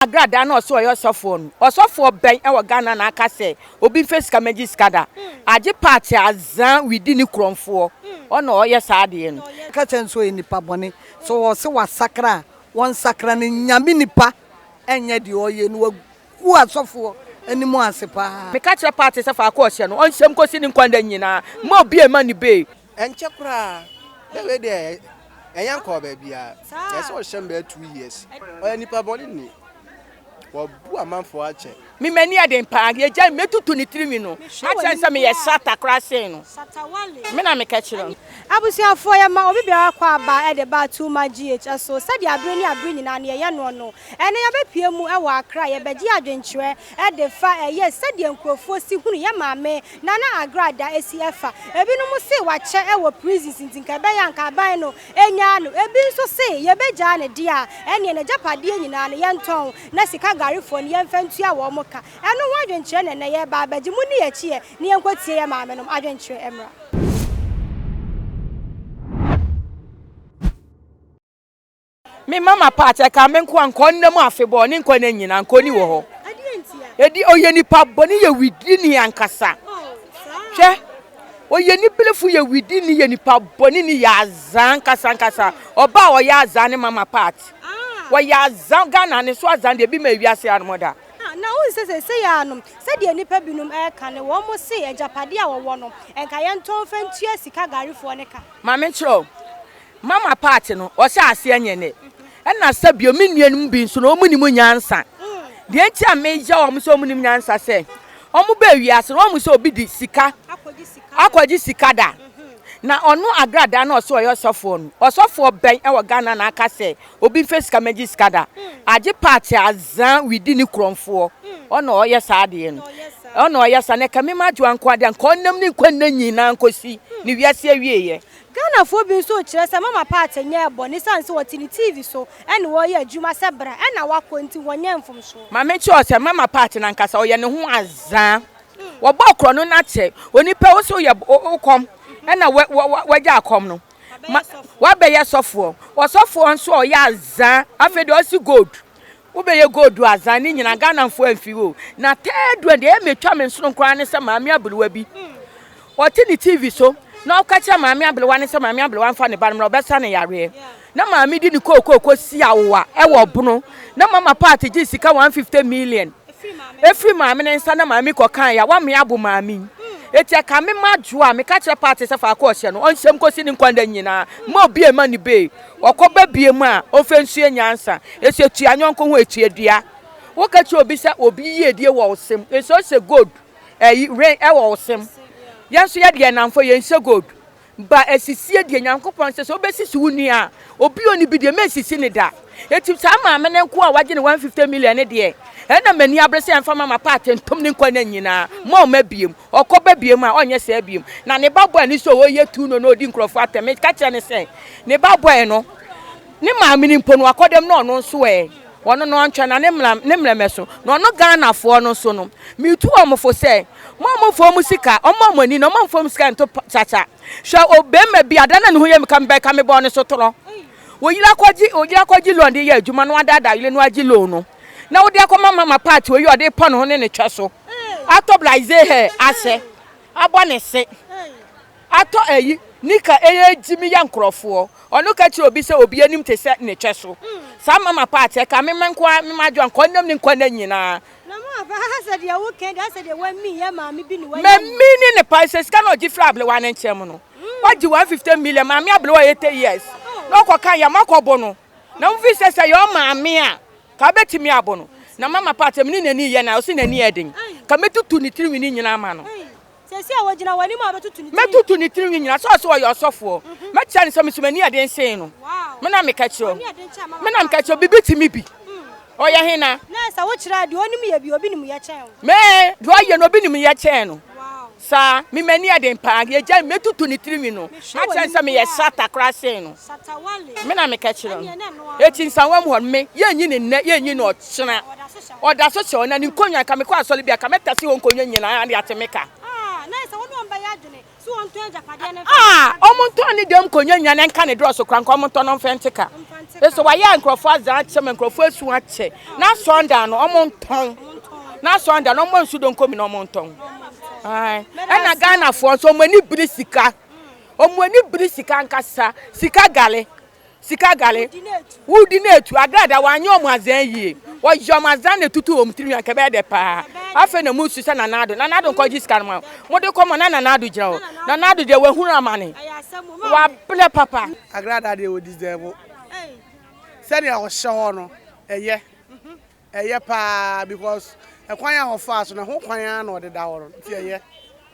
Agradaa na ɔsɛ ɔyɛ ɔsɔfoɔ no ɔsɔfoɔ bɛn ɛwɔ Ghana na aka sɛ obi nfɛ sika mɛgye sika da agye paate adza widi ne kurɔnfoɔ ɔna ɔyɛ saa adeɛ no. Ɔka kyerɛ no sɛ ɔyɛ nipa bɔne sɛ ɔse wasakra a wɔnsakra no Nyame nipa ɛnyɛ deɛ ɔyɛ no wagu asɔfoɔ anim ase paa. Meka kyerɛ paate sɛ faako ɔhyɛ no ɔnhyɛ mu kɔsi ne nkwa nna nyinaa mma obi ɛmma ne bee. Ɛnkyɛ koraa na wei deɛ ɛnyɛ nkɔɔ baabiara na ɛsɛ ɔhyɛ no bɛyɛ two years ɔyɛ nipa bɔne ni wabu amanfoɔ akyɛ. Me m'ani yɛ den paa yɛgyae me mɛtutu ne tirinwi no akyerɛ no sɛ meyɛ sata koraa sen no me na meka kyerɛ no. Abusuafoɔ yɛma obi biara kɔ aba de ba Tuma GH so sɛdeɛ abere ne abere nyinaa no yɛyɛ noɔ no. Ɛnɛ yɛbɛpue mu wɔ Accra yɛbɛgye adwenkyerɛ de fa ɛyɛ sɛdeɛ nkurofoɔ si hunu yɛ maame Nana Agra da asi ɛfa. Ebinom se wakyɛ wɔ prisons nti nka ɛbɛyɛ a nka aban no nyaa no. Ebi nso se yɛbɛgyaa no deɛ a, ɛneɛ n'agyapadeɛ nyinaa no yɛntɔn na sika garefoɔ no yɛmfa ntua wɔn ka. Ɛno ho adwenkyerɛ na ɛnnɛ yɛreba abɛgye. Monni yɛn akyi ɛ na yɛnkɔtie yɛn maamenom adwenkyerɛ mmra. Me mama part ɛka me nkoa nkɔ nna mu afebɔɔ ne nkɔ nna nyina nkɔ ni wɔ hɔ ɛdi ɔyɛ nipa bɔne yɛ widi ni ankasa hwɛ ɔyɛ ni bilifo yɛ widi ni yɛ nipa bɔne ni yɛ azaa ankasa ankasa ɔba a ɔyɛ azaa ne mama part wɔyɛ azaa Ghana ne so azaa deɛ bi ma ewi ase anom da na wo nsɛ sɛ sɛ yɛ anom sɛdeɛ nipa binom ɛka ne wɔn mo se agyapadeɛ a wɔwɔ no ɛnka yɛntɔn fɛntua sika garefoɔ ne ka ma menkyerɛ Mama part no ɔhyɛ aseɛ nyɛ nɛ ɛna sɛ bio me nua no mu bi nso no ɔmo nim nyansa deɛ nti a me yɛ ɔmo sɛ ɔmo nim nyansa sɛ ɔmo bɛ wiase no ɔmo sɛ obi di sika akɔgye sika da na ɔno agrada na ɔsɛ ɔyɛ ɔsɔfoɔ no ɔsɔfoɔ bɛn ɛwɔ Ghana na aka sɛ obi nfɛ sika mɛgye sika da agye part azaa widi ne kurɔnfoɔ ɔna ɔyɛ saa adeɛ no ɔna ɔyɛ saa na ɛka me ma adwoa nko adeɛ nka ɔnam ne nkwa nna nyinaa nkosi ne wiase awieɛ. Ghanafoɔ bi nso rekyerɛ sɛ Mama Partey nyɛɛ bɔne esiane sɛ ɔte ne TV so ne wɔreyɛ adwuma sɛ bra na wakɔ nti wɔnyɛɛ mfomsoɔ. Ma menkyerɛ sɛ Mama Partey no ankasa ɔyɛ ne ho azaa. Wɔbɔɔ korɔno no akyɛ onipa wo sɛ woyɛ wo kɔm na wagya akɔm no wabɛyɛ sɔfoɔ. Ɔsɔfoɔ nso a ɔyɛ azaa afei deɛ ɔse gold Wobɛyɛ gold o Azan ne nyinaa Ghanafoɔ amfiri o Na third one deɛ ɛyɛ metwa me nsono koraa ne sɛ maame aberewa bi Ɔte ne TV so na ɔka kyerɛ maame aberewa no sɛ maame aberewa mfa ne ba no mmra ɔbɛsa no yareɛ Na maame de ne kookoo kɔsi awowa ɛwɔ ɔbono Na mama part gyee sika 150 million ɛfiri maame no nsa na maame kɔkaeɛ a Wame abo maame yi Enti ɛka me ma dwoɔ a meka kyerɛ part sɛ faako ɔhyɛ no ɔnhyɛ mu kɔsi ne nkwa nna nyinaa Mma obi mma ne bee Wɔkɔba biom a, ɔmfa nsua nyansa. Ɛsɛ tua yɔnko ho ɛtua dua. Woka kyerɛ obi sɛ obi yiedie wɔ wo sem, ɛsɛ ɔsɛ gold, ɛyi, ring, ɛwɔ wo sem. Yɛn nso yɛde yɛn nnamfo, yɛnsɛ gold. Ba asisie deɛ, Nyankopɔn sɛ sɛ wobɛsisi wo nua a, obi a ɔnni bi deɛ, mensisi no da. Enti saa maame no nkoa a wagye ne 150 million no deɛ, ɛna m'ani abere sɛ ɛmfa mma m'apɛ atentom ne nkwa nna nyinaa. Mma ɔmma biom. Ɔkɔba biom a, ɔnyɛ saa biom. Na ne ba bɔe no sɛ ɔreyɛ tu no na ɔredi nkurɔfoɔ atɛm. Meka kyerɛ no sɛ, ne ba bɔe no, ne maame no mpo no, wakɔ dɛm na ɔno nso ɛ, ɔno no ɔntwɛn na ne mmra, ne mmerɛmɛso. Na ɔno Ghanafoɔ no nso no, metu wɔn fo sɛ, mo a momfa wɔn sika, wɔmma mo ani na wɔmfa wɔn sika nto kyakya. Hwɛ o, barima bi a, da no a ne ho yɛ me ka me ba yi ka mebɔɔ ne so torɔ. Ɔyere akɔgye, ɔyere akɔgye loan de yɛ adwuma na wadaadaa yere no agye loan no. na wode akɔma mama part oyi ɔde pɔ ne ho ne ne twɛ so atɔ blaze hair ahyɛ abɔ ne se atɔ ayi nika ɛyɛ gyimi yɛ nkorɔfoɔ ɔno ka kyerɛ obi sɛ obi anim te sɛ ne twɛ so saa mama part ɛka me ma nkoa me ma adwoa nkɔ nam ne nkwa na nyinaa mamini ne pa sɛ sika na ɔgye firi ablewa ne nkyɛm no wagye 150 million maame ablewa 80 years na ɔkɔka yɛ makɔbo no Na wofi sɛ sɛ yɛ ɔmaa me a, ka wobɛtumi abo no. Na mama pa sɛ me ne n'ani yɛ no a, ɔse n'ani yɛ den. Ka mɛtutu ne tirinwi no nyinaa ama no. Mɛtutu ne tirinwi nyinaa, sɛ ɔse ɔyɛ ɔsɔfoɔ. Mɛkyerɛ no sɛ me nso m'ani yɛ den sen no. Me na meka kyerɛ wo. Me na meka kyerɛ wo, biribi te me bi. Ɔyɛ hena? Me, deɛ ɔyɛ no obi nim yɛ kyɛn no. Saa, me m'ani yɛ den paa, deɛ gyae mɛtutu ne tirinwi no, akyerɛ no sɛ meyɛ srata koraa sen no. Me na meka kyerɛ no. Eti nsawa mu hɔ no, me, yɛnyi no nnɛ, yɛnyi no ɔkyena. Ɔda so kyɛ, ɔna ne nkonnwa, nka mekɔ asɔre bi a, nka mɛtase hɔ nkonnwa nyinaa de ate me ka. Aa! Wɔntɔn ne dɛm nkonnwa nyinaa na nka ne dorɔso koraa, nka wɔntɔ no mfa nte ka. Ese wɔayɛ nkurɔfoɔ adzaa akyɛ ma nkurɔfoɔ asu akyɛ, na asɔndan no, wɔntɔn. na sɔn da na ɔmɔ nsu donko mi na ɔmɔ ntɔn ɛna ghana foɔ nso ɔmɔ ani biri sika ɔmɔ ani biri sika nkasa sika gale sika gale wudi na etu agrada wanyɛ ɔmɔ azɛn yie wɔyɛ ɔmɔ azɛn na etutu ɔmɔ tirinwi akɛbɛɛ dɛ paa afei na mu su sɛ nanado nanado nkɔ gyi sika no ma mo de kɔ mɔ na nanado gyina hɔ nanado deɛ wahunu amane wabrɛ papa agrada deɛ wɔdi zɛbo sɛdeɛ ɔhyɛ hɔ no ɛyɛ. Ɛyɛ paa because ɛkwan a ɔfaa so no ɛho kwan ara na ɔde da hɔ no nti ɛyɛ.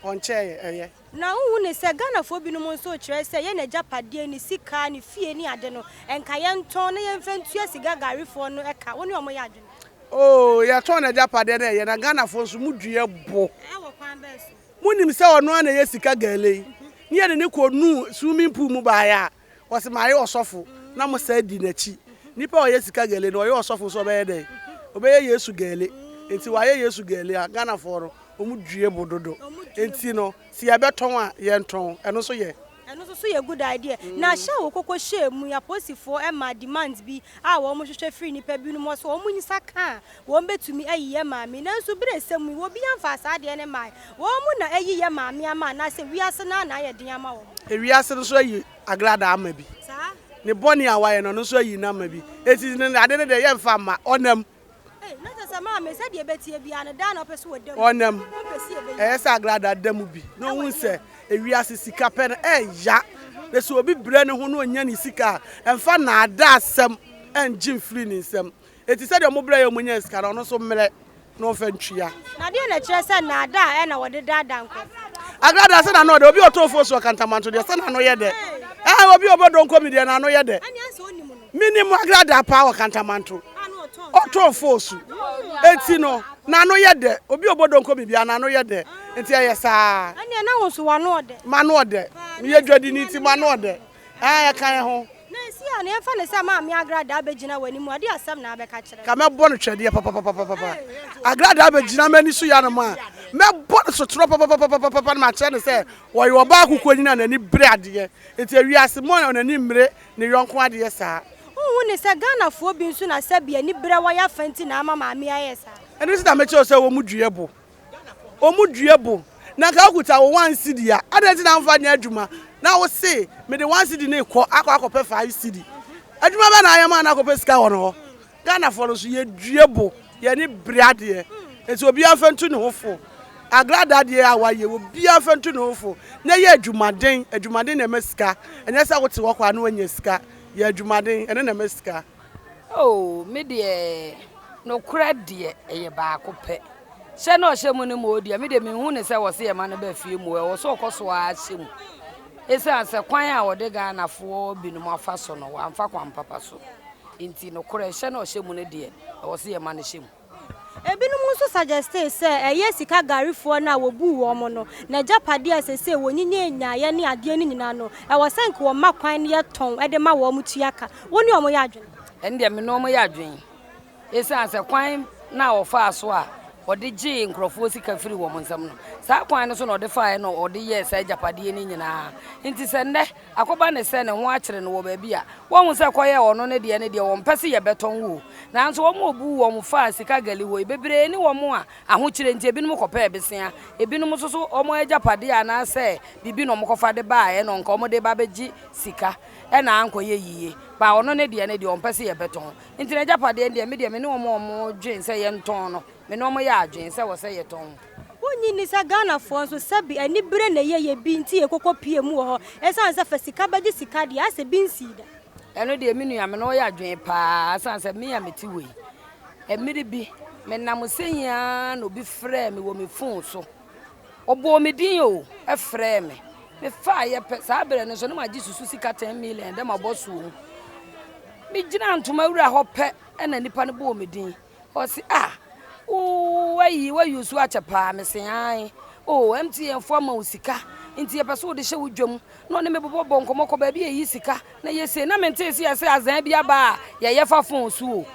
Ɔnkyɛ yɛ ɛyɛ. Na wonhu ne sɛ Ghanafoɔ binom nso rekyerɛ sɛ yɛn agyapadeɛ, ne sika, ne fie ne ade no nka yɛntɔn na yɛmfa ntua siga garefoɔ no ka. Wo ne wɔn yɛ adwene? Oo yɛtɔn n'agyapadeɛ na ɛyɛ na Ghanafoɔ nso mo dua bo. Ɛwɔ kwan bɛn so? Monim sɛ ɔno ara na ɛyɛ sika gale yi ne yɛde no kɔnuu swimming pool mu baeɛ a Ɔse mayɛ ɔsɔfo na mo saa di nakyi. Nipa a ɔyɛ sika gɛle no ɔyɛ ɔsɔfo nso ɔbɛyɛ dɛn? Ɔbɛyɛ Yesu gɛle. Nti wayɛ Yesu gɛle a Ghanafoɔ no ɔmo due bo dodo. Nti no se yɛbɛtɔn a yɛntɔn. Ɛno nso yɛ. Ɛno nso so yɛ good idea. Na hyɛ a wokoko hyɛɛ mu yi aposifoɔ ɛmaa demands bi a wɔn hwehwɛ firi nipa binom hɔ sɛ wɔn nsa ka a Wɔn bɛtumi ayi yɛ maa me nanso berɛsɛm mu yi obi amfaa saa adeɛ no mmae. Wɔn mu na ayi yɛ maa me ama anaasɛ wiase no ara na ayɛ den ama wɔn? Ewiase no nso ayi agradaa ama bi. Ne bɔne a wayɛ no ɔno nso ayi no ama bi. Enti ne ade no deɛ yɛmfa mma, ɔnam. Ei, na kyerɛ sɛ maame sɛdeɛ ɛbɛteɛ biara no daa na ɔpɛ sɛ ɔda mu. Ɔnam. Ɔmpɛ sɛ yɛbɛyi. Ɛyɛ sɛ agradaa da mu bi na ɔhu sɛ ewiase sika pɛ no ɛya. Na sɛ obi brɛ ne ho na ɔnya ne sika a, ɛmfa nnaadaasɛm nngye mfiri ne nsam. Enti sɛdeɛ mobrɛɛ yɛn a monyaa sika no, ɔno nso mmrɛ na ɔmfa ntua. Na deɛn na ɛkyerɛ sɛ nnaadaa na wɔde daadaa nkurɔfoɔ? Agradaa sɛ n'ano yɛ dɛ, obi a ɔtɔ ofuo so akantamanto deɛ, sɛ n'ano yɛ dɛ. Aane, obi a ɔbɔ donko bi deɛ, n'ano yɛ dɛ. Menim agradaa paa wɔ kantamanto, ɔtɔ ofuo so, enti no, n'ano yɛ dɛ. Obi a ɔbɔ donko bi biara, n'ano yɛ dɛ, enti ɛyɛ saa ara. Ɛnneɛ na wo nso w'ano ɔdɛ. M'ano ɔdɛ. Meyɛ dwadini nti m'ano ɔdɛ. Ɛ a yɛka yɛn ho. Na esi a na yɛmfa no sɛ maame agradaa begyina w'anim a, deɛ asɛm na abɛka kyerɛ. Ka mɛbɔ no twɛdeɛ papapapapapa. Agradaa bɛgyina m'ani so yɛanom a, mɛbɔ no sotorɔ papapapapapa na makyerɛ no sɛ ɔyɛ ɔbaa kokoanyin a n'ani bere adeɛ. Nti ewiase mu a wɔn ani mmere ne yɔnko adeɛ saa. Wonhu ne sɛ Ghanafoɔ bi nso na sɛbi ani bere wɔn yɛ afa nti na ama maame ayɛ saa. Ɛno nti na mekyerɛ wo sɛ wɔn due bo. wɔn dua bo na nka wokuta wo one cedi a, adɛn nti na womfa nyɛ adwuma na wose mede one cedi no rekɔ akɔ akɔpɛ five cedi? Adwuma bɛn na ayɛ ma na akɔpɛ sika wɔn hɔ? Ghanafoɔ no nso yɛdua bo, yɛn ani bere adeɛ, nti obiara mfa ntu ne ho fo. Agrada adeɛ a wɔayɛ, obiara mfa ntu ne ho fo na yɛ adwumaden, adwumaden na ɛma sika, ɛnyɛ sɛ wote hɔ kwa na woanya sika. Yɛ adwumaden, ɛno na ɛma sika. Oh, me deɛ, nokorɛ deɛ, ɛyɛ baako pɛ. Hyɛ na ɔhyɛ mu no mu deɛ, me deɛ menhu ne sɛ wɔse yɛma no ba fie mu, ɛwɔ sɛ ɔkɔ so ara hyɛ mu. Ɛsiane sɛ kwan a wɔde Ghanafoɔ binom afa so no, wɔamfa kwan papa so. Nti nokorɛ, hyɛ na ɔhyɛ mu no deɛ, ɛwɔ sɛ yɛma no hyɛ mu. Ebinom nso suggestee sɛ ɛyɛ sika garifoɔ no a wɔbuu wɔn no n'agyapadeɛ a seesei wɔnyinyɛ nyaeɛ ne adeɛ no nyinaa no, ɛwɔ sɛ anka wɔma kwan na yɛtɔn de ma wɔn tua ka. Wo ne wɔn yɛ adwene? Ɛno deɛ me ne wɔn yɛ adwene esiane sɛ kwan no a ɔfaa so a ɔde gyee nkurɔfoɔ sika firii wɔn nsam no, saa kwan no so na ɔde faeɛ na ɔde yɛɛ saa agyapadeɛ no nyinaa nti sɛ nnɛ, Akɔba ne sɛ ne ho akyere no wɔ baabi a, woahu sɛ kɔyɛɛ ɔno ne deɛ ne deɛ wɔmpɛ se yɛbɛtɔn wo o. Nanso wɔn a wɔbuu wɔn faa sika gali hɔ yi, bebree ne wɔn a ahokyere nti ebinom kɔpɛɛ besea, ebinom nso so wɔn agyapadeɛ anaasɛ biribi na wɔkɔfa de baeɛ na anka wɔde reba abɛgye sika na ankɔyɛ yiye. Baa ɔno ne deɛ ne deɛ wɔmpɛ se yɛbɛtɔn. Enti n'agyapadeɛ no deɛ, me deɛ me ne wɔn a wɔdwene sɛ yɛntɔn no, me ne wɔn yɛɛ adwene sɛ ɛwɔ sɛ yɛtɔn. Wonnye nni sɛ Ghanafoɔ nso sɛbe anibere na ɛyɛ yɛ bi nti yɛkɔkɔ pie mu wɔ hɔ ɛsiane sɛ fa sika bɛgye sika deɛ asɛ bi nsii da. Ɛno deɛ me nua me ne wo yɛ adwene paa ɛsiane sɛ me a mete hɔ yi mmere bi me nam sɛ yi ara na obi frɛɛ me wɔ me phone so ɔbɔɔ me din o ɛfrɛɛ me me faa yɛ pɛ saa berɛ no nso na magye susu sika 10 million dɛ mabɔ soɔ mu me gyina ntoma wura hɔ pɛ ɛna nipa no bɔɔ me din Ɔse ah ooh wayi wa use akyɛ paa mese ae oh MTN fo ama wo sika nti yɛpɛ so wode hyɛ wo dwam na ɔne me bobɔ bɔ nkɔmɔ kɔ baabi yɛyi sika na yɛse na mente se yɛse azan bi aba a yɛyɛ fa fon so o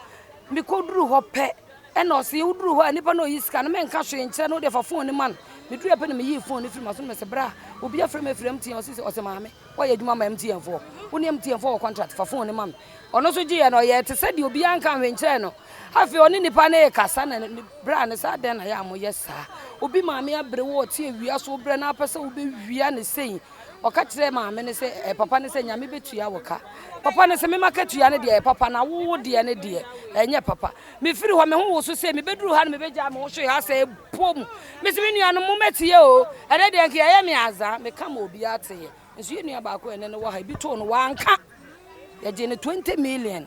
mekɔduru hɔ pɛ ɛna ɔse woduru hɔ a nipa na ɔyi sika no menka hwee nkyerɛ no wode fa fon no ma no meduru pɛ na meyii fon no firi ma so no mese bra obi afrɛ me afiri MTN ɔse ɔse maame Woayɛ adwuma ma MTN foɔ. Wo ne MTN foɔ wɔ contract, fa phone no ma me. Ɔno nso gyeeɛ no, ɔyɛɛ te sɛ deɛ obiara nka hwee nkyerɛɛ no. Afei ɔne nipa no rekasa na ne braa no sɛ, Adɛn na ɛyɛ a moyɛ saa? Obi maame abre wo, ɔte awia so, wobrɛ no ara pɛ sɛ wobɛwia no sei. Ɔka kyerɛɛ maame no sɛ, ɛɛ, papa no sɛ, Nyame bɛtua wo ka. Papa no se, Mema katua no deɛ ɛyɛ papa na wo wo deɛ no deɛ, ɛnyɛ papa. Mefiri hɔ, me ho woso sei, mebɛduru ha no mebɛgyaa me ho hwee ha sɛ ɛpɔ mu. Mese me nuanom mo mɛteɛ o, ɛnɛ deɛ nka yɛyɛ me aza, meka ma obiara teeɛ. Nso yɛ nua baako ɛnɛ no wɔ ha, ebi too no wanka. Yɛgye no 20 million.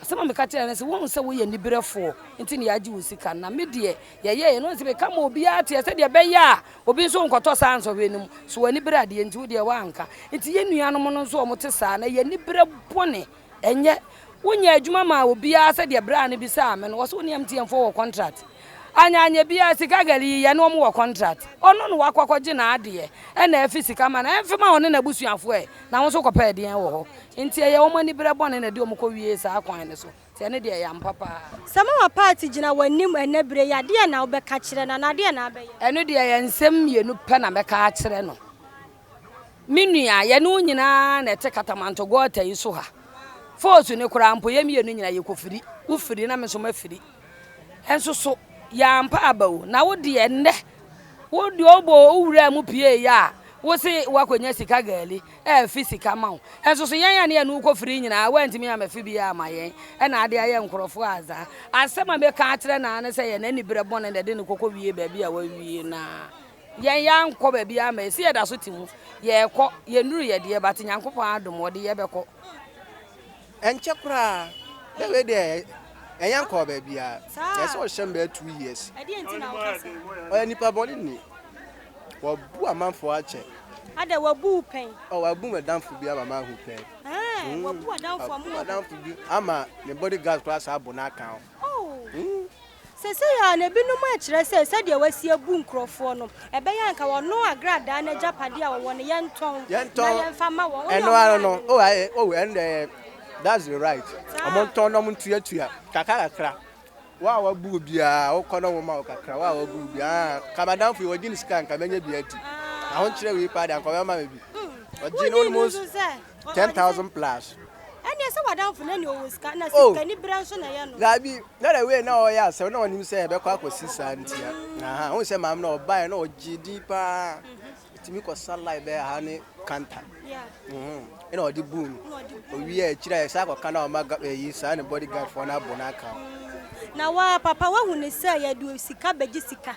Asɛm a meka kyerɛ no sɛ wohu sɛ woyɛ niberɛfoɔ nti na yɛagye wo sika no, na me deɛ yɛyɛeɛ no sɛ meka ma obiara teɛ sɛdeɛ ɛbɛyɛ a obi nso nkɔtɔ saa nsɔhwɛ no mu. So w'ani bere adeɛ nti wo deɛ woanka? Nti yɛ nuanom no nso wɔte saa na yɛ ani bere bɔne. Ɛnyɛ, wonyɛɛ adwuma maa obiara sɛdeɛ braa no bisaa me no, wɔse wo ne MTN foɔ wɔ contract. Anyɛ anyɛ biara sika girl yi yɛne wɔn wɔ contract. Ɔno na wakɔ akɔgye n'adeɛ ɛna afi sika ma no, ɛmfe ma ɔne n'abusuafoɔ ɛ, na wo nso kɔpɛ ɛdeɛn wɔ hɔ? Nti ɛyɛ wɔn aniberɛ bɔne na ɛde wɔn kɔwiee saa kwan no so, nti ɛno deɛ ɛyɛ ampa paa. Sɛ mama party gyina w'anim ɛnnɛ berɛ yi a, deɛn na wobɛka kyerɛ no anaa deɛn na abɛyɛ? Ɛno deɛ ɛyɛ nsɛm mmienu pɛ na mɛka akyerɛ no. Me nua, yɛne wo nyinaa na ɛte Katamanto gɔɔta yi so ha. Falls no koraa mpo, yɛn mmienu nyinaa yɛkɔfiri. Wofiri na me nso mafiri. Nso so, yɛampa aba o. Na wo deɛ nnɛ, wo deɛ wobɔ wo wura mu pieeɛ a, wo se woakɔnya sika gaali, ɛrefi sika ma wo. Nso so yɛn a ne yɛne wo kɔfiri nyinaa, woantumi amfi biara amma yɛn. Ɛna ade ayɛ nkurɔfoɔ adza. Asɛm a mɛka akyerɛ no ara ne sɛ yɛn aniberɛ bɔne na ɛde no kɔkɔwie baabi a wawie no ara. Yɛn yɛankɔ baabiara ma ɛsi yɛda so te mu. Yɛrekɔ, yɛnnuru yɛ deɛ but Nyankopɔn adom ɔde yɛbɛkɔ. Ɛnkyɛ koraa, na wei deɛ yɛn yɛnkɔɔ baabiara. Ɛyɛ sɛ ɔhyɛ mbɛyɛ two years. Ɛdeɛn nti na woka saa? Ɔyɛ nipa bɔne ni. Wabu amanfoɔ akyɛ. Adɛn, wabu wo pɛn? Oh, wabu m'adamfo bi ama mahu pɛn. Ɛɛn, wabu adamfo ama wahu pɛn. Wabu m'adamfo bi ama ne body guard koraa saa abu no aka ho. Oh! Mm. Seesei ara no, ebinom rekyerɛ sɛ sɛdeɛ wɔasi abu nkurɔfoɔ no, ɛbɛyɛ a anka wɔno agradaa no agyapadeɛ a wɔwɔ no, yɛntɔn na yɛmfa mma wɔn. Wone wɔn ara no. Oh, aye, oh, ɛnde ɛyɛ, that's the right. Wɔntɔn na wɔntuatua kakrakakra. Wo a woabu wo biara, wokɔ na wɔma wo kakra. Wo a woabu wo biara, ah, anka m'adamfo yi, ɔgye ne sika a, anka mɛnya bi adi. Ahonkyerɛ wei paa deɛ, anka ɔbɛma me bi. Ɔgye na wonim nso sɛ ten thousand plus. Ɛneɛ sɛ wadamfo no ɛneɛ ɔwɔ sika na oh. sikani berɛ nso na ɛyɛ no. Daabi na the way na ɔyɛ asɛm na ɔnim sɛ ɛbɛkɔ akɔsi saa nti a aha ɔhu sɛ maame na ɔbaeɛ na ɔgye di paa ɛtumi kɔsa live bɛyɛ ha ne kanta ɛna ɔde buu no ɔwie akyiri a ɛsɛ akɔka na ɔma ɛyi saa ne body guard foɔ no abɔ no aka na wa papa wahu ne sɛ yɛde sika bɛgye sika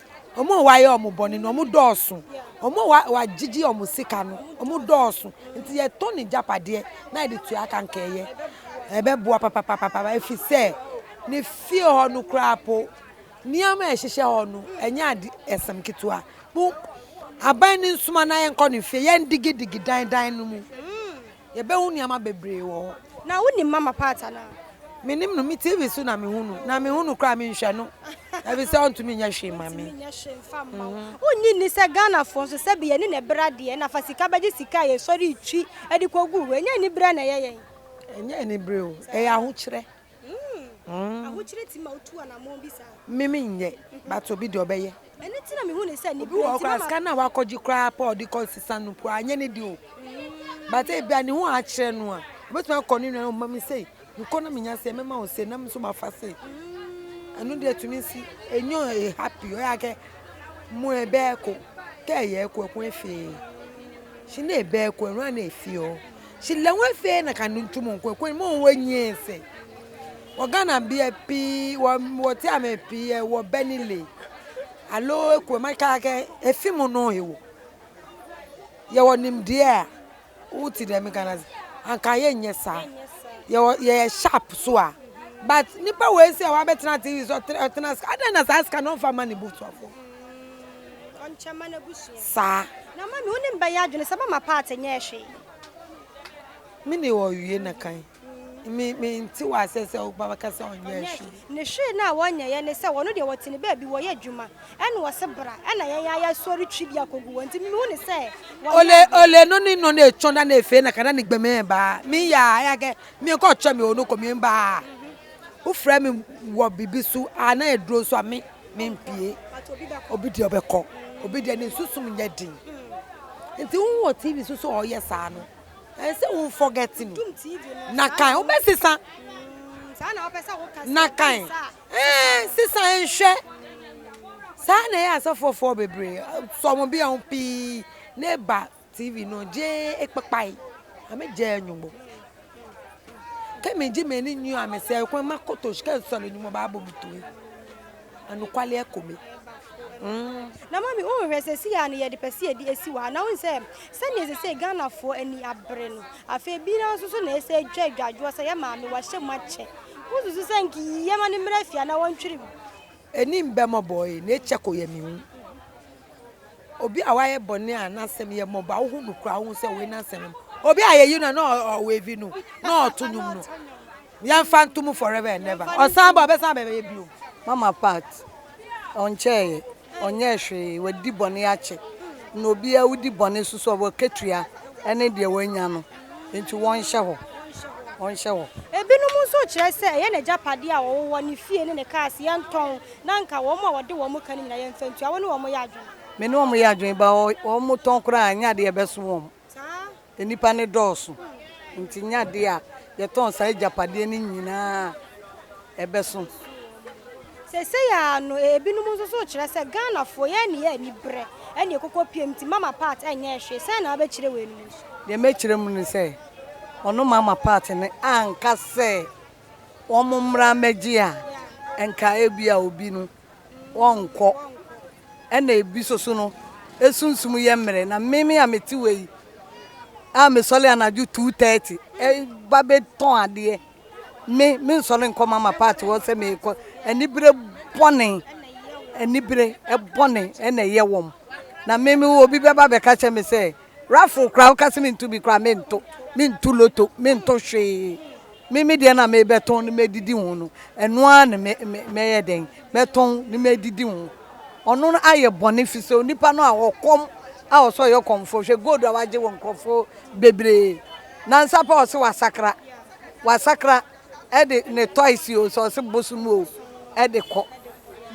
Wɔn a wɔayɛ wɔn bɔne no, wɔdɔɔso. Wɔn a wa, wɔagyegye wɔn sika no, wɔdɔɔso. Nti yɛtɔ ne gyapadeɛ na yɛde tua ka nkɛeɛ. Ɛbɛboa papapapapa, ɛfiri sɛ ne fie hɔ no koraa po, nneɛma a ɛhyehyɛ hɔ no, ɛnyɛ ade, asɛm ketewa. Mo, aban no nsoma na yɛnkɔ ne fie, yɛndigidigi dan dan no mu. Yɛbɛhu nneɛma bebree wɔ hɔ. Na wonim Mama Pat anaa? Menim no, me TV so na mehu no, na mehu no koraa a, menhwɛ no efisɛ ɔntumi nyɛ hwee mma me. Ɔntumi nyɛ hwee mfa mma wo. Wonnye nni sɛ Ghanafoɔ nso, sɛbe yɛne no ɛberɛ adeɛ na fa sika bɛgye sika a yɛsɔre retwi de kɔgu hɔ. Ɛnyɛ aniberɛ na ɛyɛ yɛn? Ɛnyɛ aniberɛ o, ɛyɛ ahokyerɛ. Me me nyɛ but obi deɛ ɔbɛyɛ. Obi wɔ hɔ koraa sika no a wakɔgye koraa pɛ a ɔde kɔ nsesa no mpo a anyɛ ne deɛ o. But ebi a ne ho akyerɛ no a obetumi akɔ ne nua no ma me sei mekɔ na menya sei mɛma wo sei na me nso mafa sei. Ɛno deɛ tumi si enyo happy ɔyɛ akɛ mo ɛbɛɛko kɛ ɛyɛ ɛko ɛko efee. Hyɛ ne ɛbɛɛko ɛno a na efee o. Hyila ho afei na kanu ntu mu nkɔ ɛkɔ mu wɔ nyie se wɔ Ghana bia pii wɔ wɔ te ame pii wɔ Benile alo ɛkɔ ma kaa kɛ efi mu no he wɔ yɛ wɔ nimdeɛ a wo te dɛm Ghana anka yɛ nyɛ saa yɛ wɔ yɛ yɛ sharp so a but nipa wɔ ese a wabɛtena ase ɔtena ase adɛn na saa sika no ɔmfa ma ne busuafoɔ. saa. Na mami wo ne me bɛyɛ adwene sɛ mama part nyɛɛ hwee. Me ne wɔ wie na kan. Me me nte wɔ asɛ sɛ wo ba bɛka sɛ ɔnyɛɛ hwee. Ne hwee no a wɔnyɛɛ ne sɛ wɔno deɛ wɔte ne baabi wɔyɛ adwuma ɛna ɔse bra ɛna yɛn ara yɛsɔre twi bi akɔgu hɔ nti me mehu ne sɛ wɔnyɛɛ Ole hwee. ole no ne no na etwɔn da na efee na ka na ne gbemee baa me yaa ɛyɛ kɛ me kɔ kyɛ me ono kɔ me baa wo frɛ me wɔ bibi so a na eduro so a me. Mempue. Obi deɛ ɔbɛkɔ. Obi deɛ ne susum nyɛ den. Nti wo wɔ TV so sɛ ɔyɛ saa no, ɛyɛ sɛ wo forget no. Na kan wobɛsesa. Na kan ɛɛ sesa nhwɛ. Saa na ɛyɛ asɔfoɔfoɔ bebree. Sɔmobea ho pii ne ba TV no gyee ekpekpae, na megyɛɛ nwonwo. Kɛ megye m'ani nyi a mesɛe kwan makoto kɛ nsɔre no mu baabɔ me tumi. Anokwale akɔ me. Mm. Na mami wo nhwɛ sɛ si a no yɛde pɛ sɛ yɛde asi hɔ a na wohu sɛ sɛdeɛ ɛsɛ sɛ Ghanafoɔ ani abere no afei bi na nso so na ɛsɛ ɛtwa adwadwoɔ sɛ yɛ maame wahyɛ mu akyɛ wo susu sɛ nka yii yɛ ma no mmra fie a na wɔntwere mu. Ɛni mbɛ mɔbɔɔ ee na ɛkyɛ kɔ yɛ me hu. Obi a wayɛ bɔne a n'asɛm yɛ mmɔbɔ a wohu no koraa, wohu sɛ wei n'asɛm yɛ mmɔbɔ. Obi a yɛyi no a na ɔwevi no, na ɔto nnwom no, yɛmfa nto mu forever and ever. Ɔsan ba a, ɔbɛsan abɛyɛ bio. Mama Pat, Ɔnkyɛeɛ, ɔnyɛɛ hwee, wadi bɔne akyɛ. Na obiara a wodi bɔne so so a, w'akatua ne deɛ wanya no, enti wɔnhyɛ hɔ, wɔnhyɛ hɔ. Ebinom nso kyerɛ sɛ ɛyɛ n'agyapadeɛ a ɔwowɔ, ne fie ne ne kaase, yɛntɔn. Na anka wɔn a wɔde wɔn ka no nyinaa yɛ mfɛntua, wo ne wɔn yɛ adwene. Me ne wɔn yɛ adwene, but wɔn tɔn koraa ɛnyɛ adeɛ a ɛbɛso wɔn. Nnipa no dɔɔso, nti ɛnyɛ adeɛ a yɛtɔn saa agyapadeɛ no nyinaa a ɛbɛso. Seesei ara no, ebinom nso so rekyerɛ sɛ Ghanafoɔ, yɛn nneyɛɛ aniberɛ na ɛkokɔ piem nti Mama Pat nyɛɛ hwee. Sɛn na wobɛkyerɛ weinom nso? Deɛ mɛkyerɛ mu ne sɛ, ɔno Mama Pat no anka sɛ wɔmmra mmɛgye a, nka ebia obi no ɔrenkɔ. Ɛna ebi nso so no, esunsum yɛ mmerɛ. Na meme a mete wei a mesɔre anadwo two thirty ba bɛtɔn adeɛ, me mensɔre nkɔ mama paati hɔ sɛ merekɔ. Anibere bɔne, anibere bɔne na ɛyɛ wɔn. Na meme obi bɛba abɛka akyerɛ me sɛ Raffle koraa woka se mento bi koraa mento. Mento loto, mento hwee. Me me deɛ na mebɛtɔn ne mɛdidi ho no, ɛno ara ne me me mɛyɛ dɛn mɛtɔn ne mɛdidi ho. Ɔno no ayɛ bɔne firi sɛ onipa no a ɔkɔm a ɔsɛ ɔyɛ kɔmfoɔ hwɛ gold a wagye wɔ nkurɔfoɔ bebree nansa pɛ ɔse wasakra wasakra ɛde ne toys o sɛ ɔse bosom o ɛde kɔ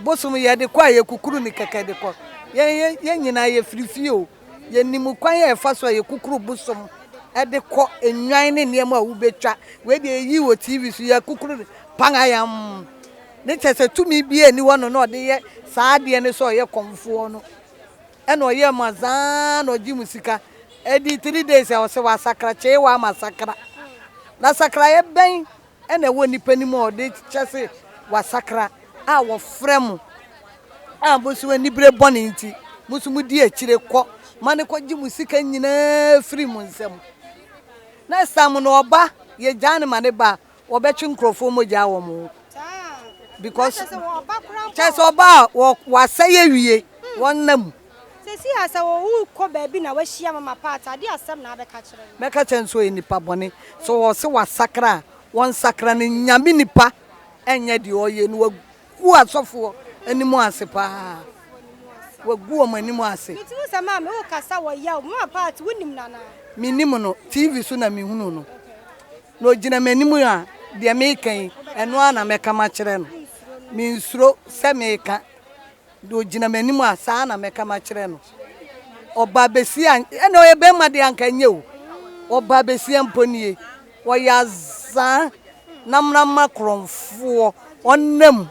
bosom yɛde kɔ a yɛkukuru ne kɛkɛ de kɔ yɛn yɛn nyinaa yɛfiri fie o. Yɛnim kwan a ɛfa so a yɛkukuru bosom de kɔ, nnwan ne nneɛma a wobɛtwa. Wei deɛ yɛyi wɔ TV so, yɛakukuru no pangayam. Ne kyɛ sɛ tumi biara nni hɔ no na ɔde yɛ saa adeɛ no sɛ ɔyɛ kɔmfoɔ no. Ɛna ɔyɛ ma zaa na ɔgye mu sika. Ɛdi three days a ɔsɛ wasakra, kyee wɔ ama sakra. Na sakraeɛ bɛn na ɛwɔ nnipa no mu a ɔde kyɛ se wɔasakra, a wɔfrɛ mo, a mo nso anibere bɔne nti, mo nso mudi akyire kɔ ma no kɔgye mo sika nyinaa firi mo nsam. Next time no ɔba, yɛgyaa no ma no ba a, wɔbɛtwe nkurɔfoɔ mogya wɔ mo ho. Because kyɛ sɛ ɔba a wɔasɛe awie, wɔnna mu. Seesei ara, sɛ worekɔ baabi na woahyia Mama Pat a, deɛn asɛm na wobɛka akyerɛ no? Mɛka akyerɛ no sɛ ɔyɛ nipa bɔne. Sɛ ɔse wasakra a, ɔnsakra. Ne Nyame nipa nyɛ deɛ ɔyɛ no. Wagu asɔfoɔ anim ase paa. Wagu wɔn anim ase. Mete mu sɛ maame wokasa wɔ yaw. Mama Pat wonim no anaa? Menim no. TV so na mehunuu no. Na ɔgyina m'anim a, deɛ meka yi, ɛno ara na mɛka makyerɛ no. Mensuro sɛ meka. Deɛ ɔgyina m'anim a, saa ara na mɛka makyerɛ no. Ɔbaabasia, ɛnna ɔyɛ barima deɛ anka ɛnyɛ o. Ɔbaabasia mpo nie, ɔyɛ azaa na mmarima korɔnfoɔ, ɔnna mu.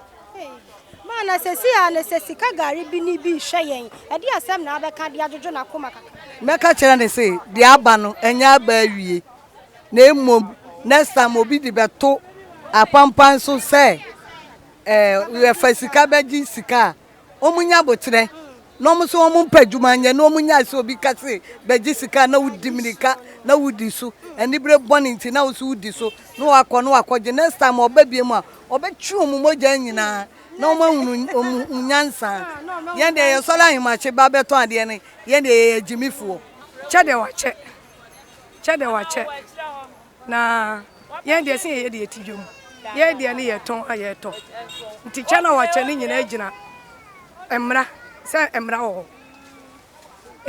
Ma na seesei ara no, sɛ sika gari bi ne bi rehwɛ yɛn, ɛdeɛn asɛm na wobɛka de adwodwo n'akoma kakra? Mɛka akyerɛ no sɛ, deɛ aba no, ɛnyɛ aba awie, na mmom next time obi de bɛto apanpan so sɛ. Eh yɛ fa sika bɛ gye sika a ɔmu nya aboterɛ na ɔmu so ɔmu mpɛ adwuma nyɛ na ɔmu nyae sɛ obi ka se bɛ gye sika a na wo di mirika na wo di so anibere bɔne nti na wo so wo di so na wa kɔ na wa kɔ gye next time ɔba biemu a ɔbɛ twe ɔmu mogya nyinaa na ɔmu ahunu ɔmu hu nyansa yɛn deɛ yɛ sɔre ahemakye ba bɛ tɔn adeɛ no yɛn deɛ yɛ yɛ agyimifoɔ. Kyɛ deɛ wakyɛ kyɛ deɛ wakyɛ. Na yɛn deɛ sɛ yɛyɛ deɛ yɛti dwom. Yɛn deɛ no yɛtɔn a yɛtɔ. Nti kyɛ na wɔkyɛ no nyinaa gyina mmara sɛ mmara wɔ hɔ.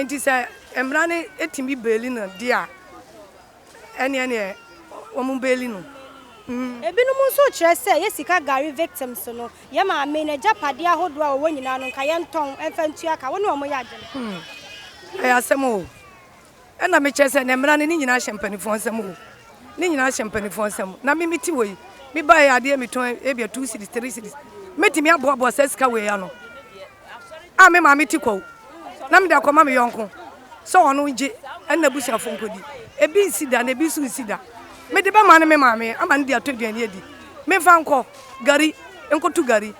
Nti sɛ mmara no ɛtumi beeli no deɛ a ɛneɛ neɛ wɔn beeli no. Mm. Ebinom nso kyerɛ sɛ yɛ sika gari victims no, yɛ maame no agyapadeɛ ahodoɔ a wɔwɔ nyinaa no nka yɛntɔn mfa ntua ka. Wo ne wɔn yɛ adwene? Hmm. Ɛyɛ asɛm o. Ɛna me kyerɛ sɛ nɛ mmara no ne nyinaa hyɛ mpaninfoɔ nsam o ne nyinaa hyɛ mpaninfoɔ nsam na me me ti wɔ yi me ba yɛ adeɛ me tɔn ebia two cities three cities me ti me aboa boa sɛ sika wɔ yi ano a me maa me ti kɔ o na me de akɔ ma me yɔnko sɛ ɔno ngye ɛna abusua fo nkɔ di ebi nsi da na ebi nso nsi da me de bɛ maa no me maa me ama no de atɔ aduane adi me nfa nkɔ gari nkoto gari.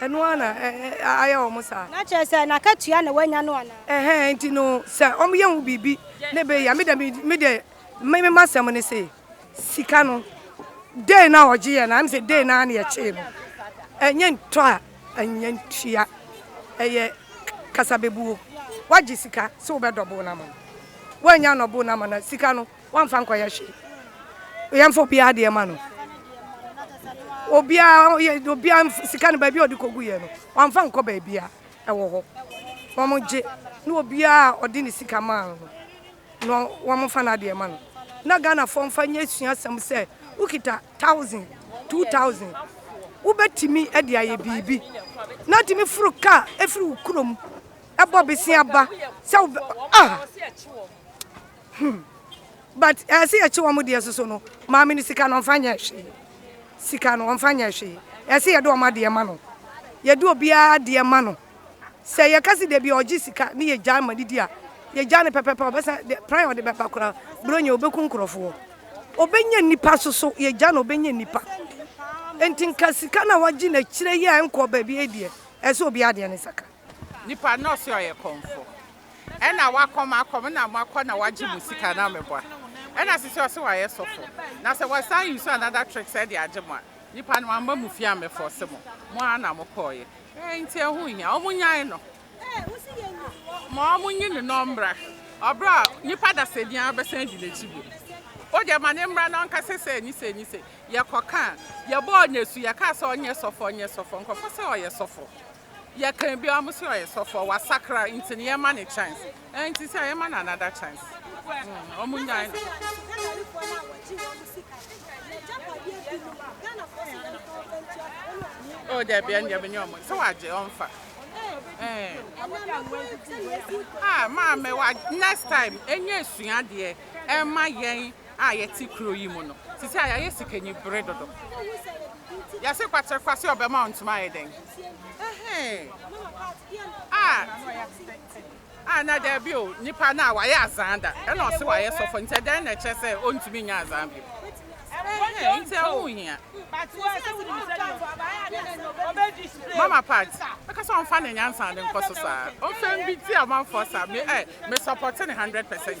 Ɛno ara na ayɛ wɔn saa. Na kyerɛ sɛ, n'akatua na wɔanya no anaa? Ɛhɛɛ, enti no, sɛ wɔyɛ ho biribi na ɛbɛyɛ a, me deɛ, me deɛ, me, me m'asɛm ne se, sika no, day no a wɔgyeeɛ no ara, ɛm sɛ day no ara na yɛkyee no. Ɛnyɛ ntɔ a, ɛnyɛ ntua. Ɛyɛ kasabebuo. Woagye sika sɛ wobɛ double no ama no, woannya annouble no ama no a, sika no, Wamfa ankɔyɛ hwee. Yɛmfa obiara deɛ ma no. Obiara yɛ obiara sika no baabi a ɔde kɔgu yɛ no wamfa nkɔ baabi a ɛwɔ hɔ. Wɔn gye na obiara a ɔde ne sika maa no no wɔn fa n'adeɛ ma no. Na Ghanafoɔ mfa nyɛ suasɛm sɛ wokita thousand, two thousand wobɛtumi de ayɛ biribi. Na atumi foro kaa ɛfiri wo kurom ɛbɔ bese aba sɛ wobɛ ah. Hum but ɛɛ sɛ yɛkye wɔn deɛ soso no maame no sika no ɔnfa nyɛ hwee sika no ɔnfa nyɛ hwee ɛɛ sɛ yɛde wɔn adeɛ ma no yɛde obiara adeɛ ma no sɛ yɛka si dabi ɔgye sika ne yɛ gya ma didi a yɛ gya no pɛpɛpɛ ɔbɛsa de pran ɔde bɛba koraa buronya ɔbɛku nkorɔfoɔ ɔbɛnya nipa soso yɛ gya no ɔbɛnya nipa enti nka sika na wagye na kyerɛ yɛ nkɔ baabi ɛdeɛ ɛɛ sɛ obiara adeɛ ne saka. Nipa na ɔse ɔyɛ kɔmfo ɛna wakɔ makɔ me na makɔ na wagye mo sika na meboa ɛna sisi ɔse wayɛ sɔfo na sɛ wasan use another trick sɛ de agye mo a nipa no wamma mo fie ammɛ force mo mo ara na mo kɔɔyɛ ɛɛ nti ɛho nhia ɔmo nyan no ma ɔmo nyi ne na ɔmmra ɔbrɛ a nipa dasani ara bɛsan adi n'akyi bio wodeɛ ma ne mmra na ɔnka sɛ sɛ ni sɛ ni sɛ yɛkɔ ka a yɛbɔɔ no asu yɛkaa sɛ ɔnyɛ sɔfo ɔnyɛ sɔfo nkorɔfo se ɔyɛ sɔfo. Yɛ kan biara ɔmo se ɔyɛ sɔfoɔ wasakra nti no yɛma no chance ɛnti sɛ yɛma no another chance ɔmo nyae no. Ɔmo ka sɛ Ghanafoɔ no a wɔgye wɔn mo sika no n'agyapadeɛ bi no Ghanafoɔ se yɛn fa ɔfa ntua ka ɛna ɔmo se ɔmfa. Oh dabi ɛndeɛ me ne ɔmo sɛ wagye ɔmfa ɛɛ. Ɛnamafo sɛdeɛ ɛsi nkɔ. Haa maame wa next time ɛnyɛ suadeɛ ɛma yɛn a yɛte kuro yi mu no, sisi a yɛayɛ sikanyi bere dodo. Yɛse kwakyere kwase ɔbɛma wo ntoma ayɛ dɛn? Ɛhee. Ah, ah, na daabi o, nipa no a wayɛ azaa da, ɛna ɔse wayɛ sɔfo, nti ɛdɛn na ɛkyerɛ sɛ ɔntumi nyɛ azaa bio? Ɛhee, nti ɛho hia. Mama Pat, ɛka sɛ ɔmfa ne nyansa ne nkɔ so saa. Ɔmfa mbi ti amanfoɔ saa, me, eh, me support ne 100%.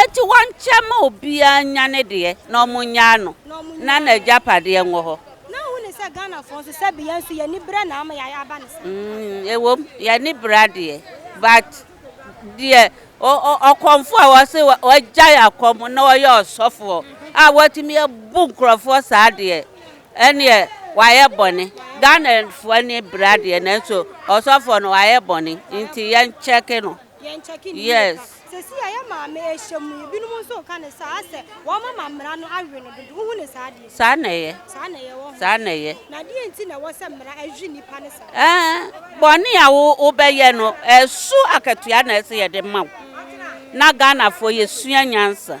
Enti wɔnkyɛ mma obiara nnya ne deɛ na wɔnnyaa no na n'agyapadeɛ nwɔ hɔ. Na wohu ne sɛ Ghanafoɔ nso sɛbe yɛn nso yɛn ani berɛ na ama yɛayɛ aba ne saa. Mm, ɛwom, yɛn ani berɛ adeɛ but deɛ ɔkɔmfoɔ a wɔse wɔagyae akɔm na wɔyɛ ɔsɔfoɔ a wɔatumi abu nkurɔfoɔ saa deɛ ɛneɛ wɔayɛ bɔne. Ghanafoɔ ani berɛ adeɛ nanso ɔsɔfoɔ no wɔayɛ bɔne nti yɛnkyɛke no. Yes. Saa na ɛyɛ. Saa na ɛyɛ. Ɛɛ, bɔne a wo wobɛyɛ no, ɛso akatua na ɛsɛ yɛde ma wo. Na Ghanafoɔ yɛsua nyansa.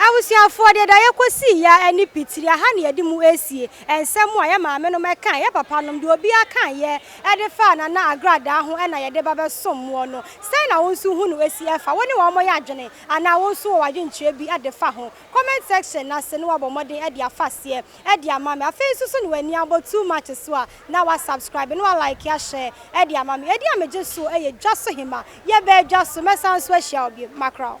Abusuafoɔ, deɛ da yɛkɔsii yi ara ne pitiri, aha na yɛde mu resie nsɛm a yɛ maamenom kaeɛ, yɛ papanom, deɛ obiara kaeɛ de faa Nana Agradaa ho na yɛde ba bɛsom moɔ no. Sɛn na wo nso hu no si fa? Wo ne wɔn yɛ adwene anaa wo nso wɔ w'adwenkyerɛ bi de fa ho? Comment section no ase na woabɔ mmɔden de afa aseɛ de ama me. Afei nso so na w'ani abɔ Too Much so a, na wa subscribe na wa like ahyɛ de ama me. Edin a megye soɔ yɛ Dwasohema. Yɛbaa dwa so, mɛsan nso ahyia wo bio. Mackerel.